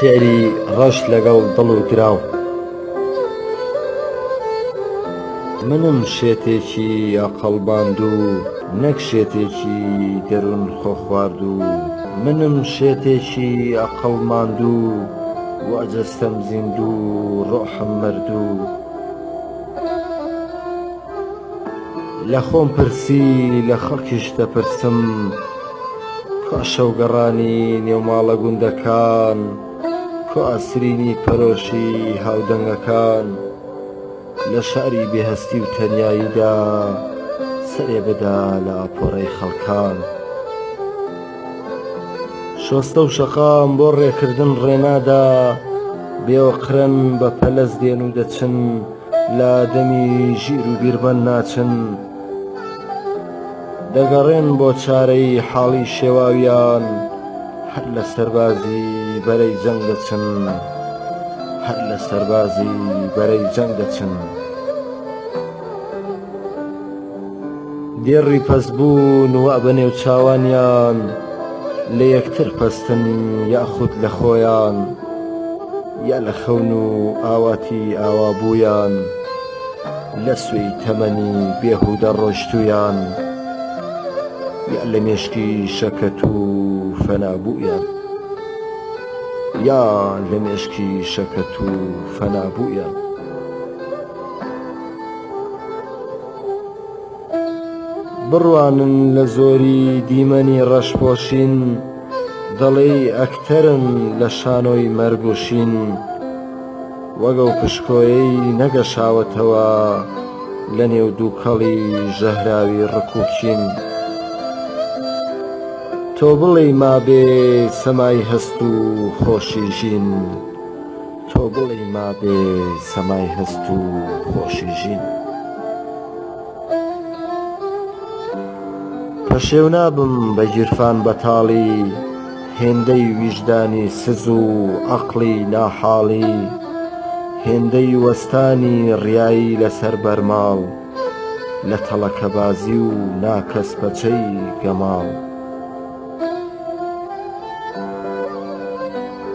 شعری ڕەش لەگەڵ دڵ و دراو منم شێتێکی یاقەڵباندوو نەک شێتێکی دەروون خۆ خواردوو منم شێتێکی ئەقڵ ماندوو وا جەستەم زیندوو ڕۆحم مردوو لە خۆم پرسی لە خەڵکیش دەپرسم کوا شەو گەڕانی نێو ماڵە گوندەکان کوا سرینی پەرۆشی هاودەنگەکان لە شاری بێ هەستی و تەنیاییدا سەرێ بەدا لە ئاپۆرەی خەڵکان شۆستە و شەقام بۆ ڕێکردن ڕێنادا بێ ئۆقرەن بە پەلەس دێن و دەچن لە دەمی ژیر و بیرمەند ناچن دەگەڕێن بۆ چارەی حاڵی شێواویان هەر لە سەربازی بەرەی جەنگ دەچن هەر لە سەربازی بەرەی جەنگ دەچن دێڕی پەست بوون وە بە نێو چاوانیان لە یەکتر پەستن یاخود لە خۆیان. یا لە خەون و ئاواتی ئاوا بوویان لە سوێی تەمەنی بێهودە ڕۆشتوویان یا لە مێشکی شەکەت و فەنا بوویان یا لە مێشکی شەکەت و فەنا بوویان. بڕوانن لە زۆری دیمەنی ڕەشپۆشین، دەڵێی ئەکتەرن لە شانۆی مەرگ و شین وەک ئەو پشکۆیەی نەگەشاوەتەوە لە نێو دووکەڵی ژەهراوی ڕک و کین تۆ بڵێی مابێ سەمای هەست و خۆشی ژین تۆ بڵێی مابێ سەمای هەست و خۆشی ژین. پەشێو نابم بە گیرفان بەتاڵی هێندەی ویژدانی سز و عەقڵی ناحاڵی هێندەی وەستانی ڕیایی لەسەر بەرماڵ لە تەڵەکەبازی و ناکەسپەچەی گەماڵ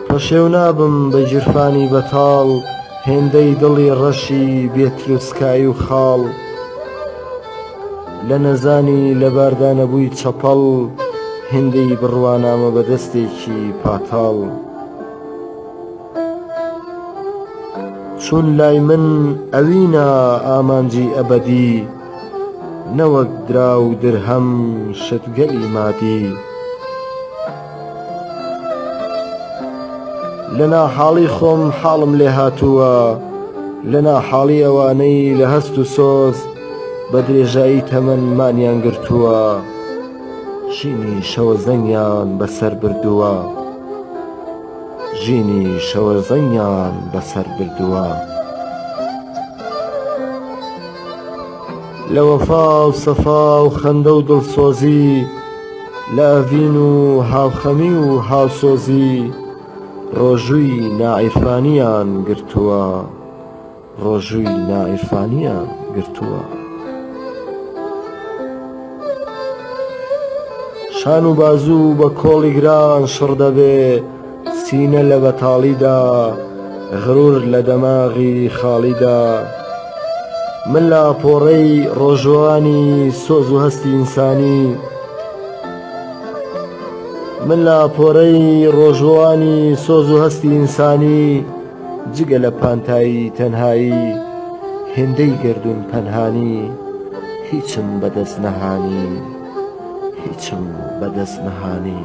پەشێو نابم بە گیرفانی بەتاڵ هێندەی دڵی ڕەشی بێ تروسکایی و خاڵ لە نەزانی لەباردا نەبووی چەپەڵ هێندەی بڕوانامە بە دەستێکی پاتاڵ چون لای من ئەوینە ئامانجی ئەبەدی نەوەک دراو و درهەم شتگەلی مادی لە ناحاڵی خۆم حاڵم لێ هاتووە لە ناحاڵی ئەوانەی لە هەست و سۆز بە درێژایی تەمەن مانیان گرتووە ژینی شەوەزەنگیان بەسەر بردووە ژینی شەوەزەنگیان بەسەر بردووە. لە وەفا و سەفا و خەندە و دڵسۆزی لە ئەڤین و هاوخەمی و هاوسۆزی ڕۆژووی ناعیرفانیان گرتووە ڕۆژووی ناعیرفانیان گرتووە. شان و بازوو بە کۆڵی گران شڕ دەبێ، سینە لە بەتاڵیدا، غرور لە دەماغی خاڵیدا، من لە ئاپۆڕەی ڕۆژوەوانی سۆز و هەستی ئینسانی، جگە لە پانتایی تەنهایی، هێندەی گەردوون پەنهانی، هیچم بە دەست نەهانی.